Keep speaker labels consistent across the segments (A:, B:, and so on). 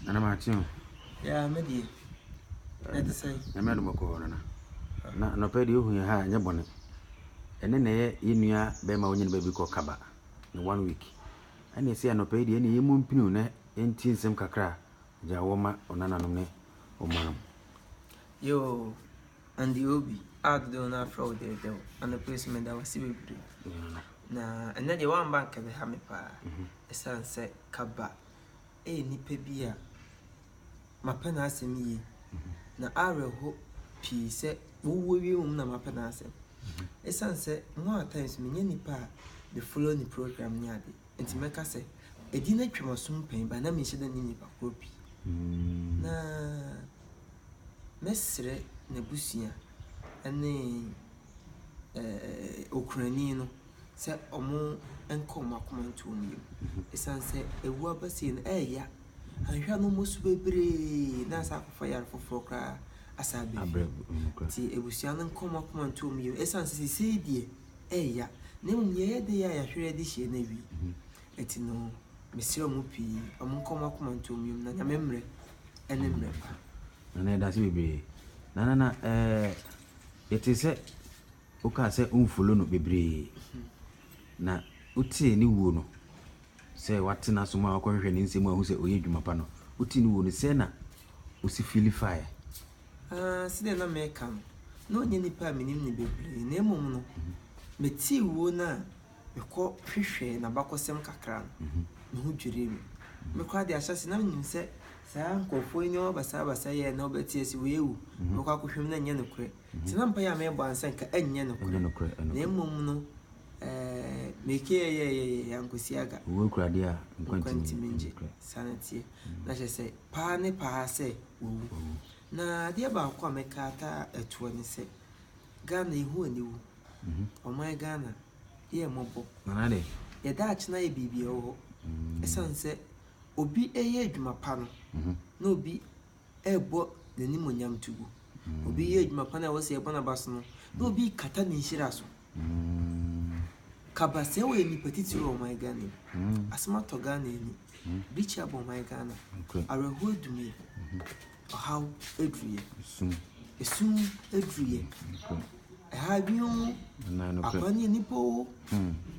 A: Nana mate o. Yeah, me
B: deɛ. Ɛte sɛ. Nyame adom
A: ɔkɔɔ nana. Na nɔpɛ deɛ ohu yɛn ha nyɛ bɔne. Ɛne na ɛyɛ yɛn nua bɛrima ɔnyɛ ne baabi kɔ kaba ne one week. Ɛne ɛsɛ anɔpɛ yi deɛ ɛne yɛn mu mpiniw na yɛn ti nsɛm kakra gya wɔ ma ɔnananom ne ɔmaam. Yoo.
B: Andy Obi a dodow no afrɛ wo dɛɛdɛw anɔpa yi so meda wo ase bebree na ɛnɛ deɛ woamba nka bɛha me paa ɛsiane mhm. sɛ kaba ɛyɛ nnipa bi a mapɛ n'asɛm yie mhm. na awerɛho pii sɛ wowuo wie mu na mapɛ n'asɛm ɛsiane mhm. sɛ mo a times menyɛ nnipa a bɛfollow ne program ne adeɛ Enti mɛka sɛ, Adi no atwam aso mpɛn bɛn na menhyɛ da nni nnipa korɔ bi, na mɛsrɛ n'abusua ne okunani no sɛ wɔnkɔ wɔn akoma nto wɔn yam, ɛsiane sɛ awu aba sei no, ɛreya. Anhwɛ a na wɔn asu bebree na asan akɔfa yare foforɔ koraa asan abrɛ bio. Enti abusua no nkɔ wɔn akoma nto wɔn yam, ɛsiane sɛ seesei deɛ, ɛɛya, na mmom deɛ ɛyɛ de yɛ a yɛahwere de hyia no awie. Ɛti no, mesrɛ mo pii, ɔmo nka ɔmo akoma nto ɔmo yam, na Nyame mmerɛ ɛne mmerɛ pa. Nana yɛdase bebree
A: Nana na ɛɛ yɛtee sɛ wokaa sɛ wo nfolo no bebree na wotee ne wuo no sɛ watena som a wakɔhwehwɛ ne nsɛm ahu sɛ ɔyɛ adwuma pa no wotee ne wuo no sɛɛ na wosi fiili faeɛ. Aa,
B: sɛdeɛ na mereka no, na ɔnyɛ nipa a menim no bebree, na mmom no, metee wuo no a mekɔ hwehwɛɛ n'abakɔsɛm kakra no, me ho dwirii me. Me koraa deɛ ahyɛase na menim sɛ saa nkorɔfoɔ yi nneɛma basabasa yi a na ɔbɛte ase wei awu, mɛkɔ akɔhwɛ mu na ɛnyɛ nokorɛ. Nti na mpaeɛ a merebɔ ara sɛ nka ɛnyɛ nokorɛ, na mmom no, ɛɛ, mekeyɛyɛyɛyɛyɛ ankɔsi aga. Owuo kura deɛ a,
A: nkwa ntumi ngye.
B: Saa na ɛteɛ. Na kyerɛ sɛ, paa ne paa sɛ. wɔwu. Na adeɛ baako a mɛka ataa ɛtoɔ ne sɛ, Ghana yɛhu aniwu. Ɔman Ghana, yɛ yɛn mmɔbɔ. Yɛn
A: daakye no ayɛ
B: biribi ɛwɔ hɔ. Ɛsiane sɛ obi reyɛ adwuma pa no, na obi rebɔ n'animuonyam to gu. Obi reyɛ adwuma pa no a ɛwɔ sɛ yɛbɔ n'aba so no, na obi rekata ne nhyira so. Kaba sɛ woyɛ nipa titiri wɔ ɔman Ghana mu. Asɛm atɔ Ghana ani. Bikyi abɔ ɔman Ghana. Awerɛhoɔ adumie. Ɔhaw aduruiɛ. Esum aduruiɛ. Ɛha adwene oo. Akora ne nnipa oo.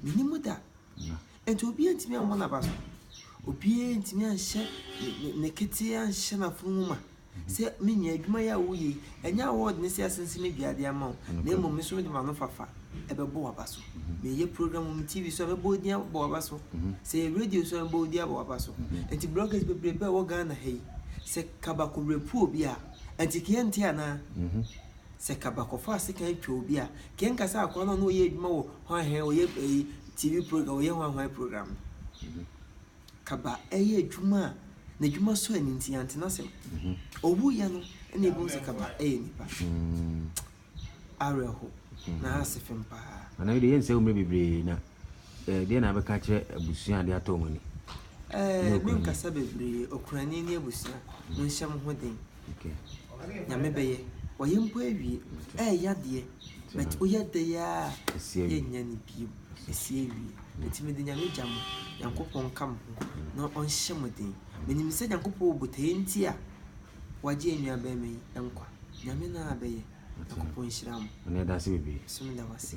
B: Menni mu da. Nti obiara ntumi ammɔ n'aba so. Obiara ntumi anhyɛ ne ketewa anhyɛ n'afono mu ma. Sɛ me nua, adwuma yi a woreyɛ yi, ɛnyɛ awɔɔd ne sɛ asensene dua ade ama wo, na mmom me nso mede m'anofafa bɛbɔ w'aba so. Meyɛ program wɔ me TV so a, mɛbɔ wo din abɔ w'aba so. Sɛ ɛyɛ radio so a, mɛbɔ wo din abɔ w'aba so. Enti bloggers bebrebe a ɛwɔ Ghana ha yi, sɛ kaba kɔrapu obi a, enti Kea nte anaa? Sɛ kaba kɔfa sekan twa obi a, Kea nka sɛ akoa no a na ɔyɛ adwuma wɔ hwanhɛn, ɔyɛ ayi, TV program, ɔyɛ hwanhwan program no? kaba ɛyɛ adwuma a n'adwuma sɔ ani nti yɛantena asɛm mhm. ɔwuiɛ no ɛna ɛbɛhu sɛ kaba ɛyɛ nipa mm. awerɛho mm. na ase fem paa ana wode yɛnsɛ wo mmerɛ
A: bebree na eh, deɛ na bɛka kyerɛ abusua ade atɔ mu ani eh,
B: menkasa bebree ɔkurani ne abusua monhyɛ mo ho den Nyame bɛyɛ. Wayɛ mpo awie. Ɛɛyɛ adeɛ. But woyɛ dɛ yi ara a, yɛnnya no bio. Ɛsi awie. Nti mede Nyame gya mo. Nyankopɔn nka mo ho na ɔnhyɛ mo den. Menim sɛ Nyankopɔn wɔ botaeɛ nti a wagye yɛn nua barima yi nkwa. Nyame
A: no ara
B: bɛyɛ.
A: Nyankopɔn
B: nhyira mo. Som
A: da wo
B: ase.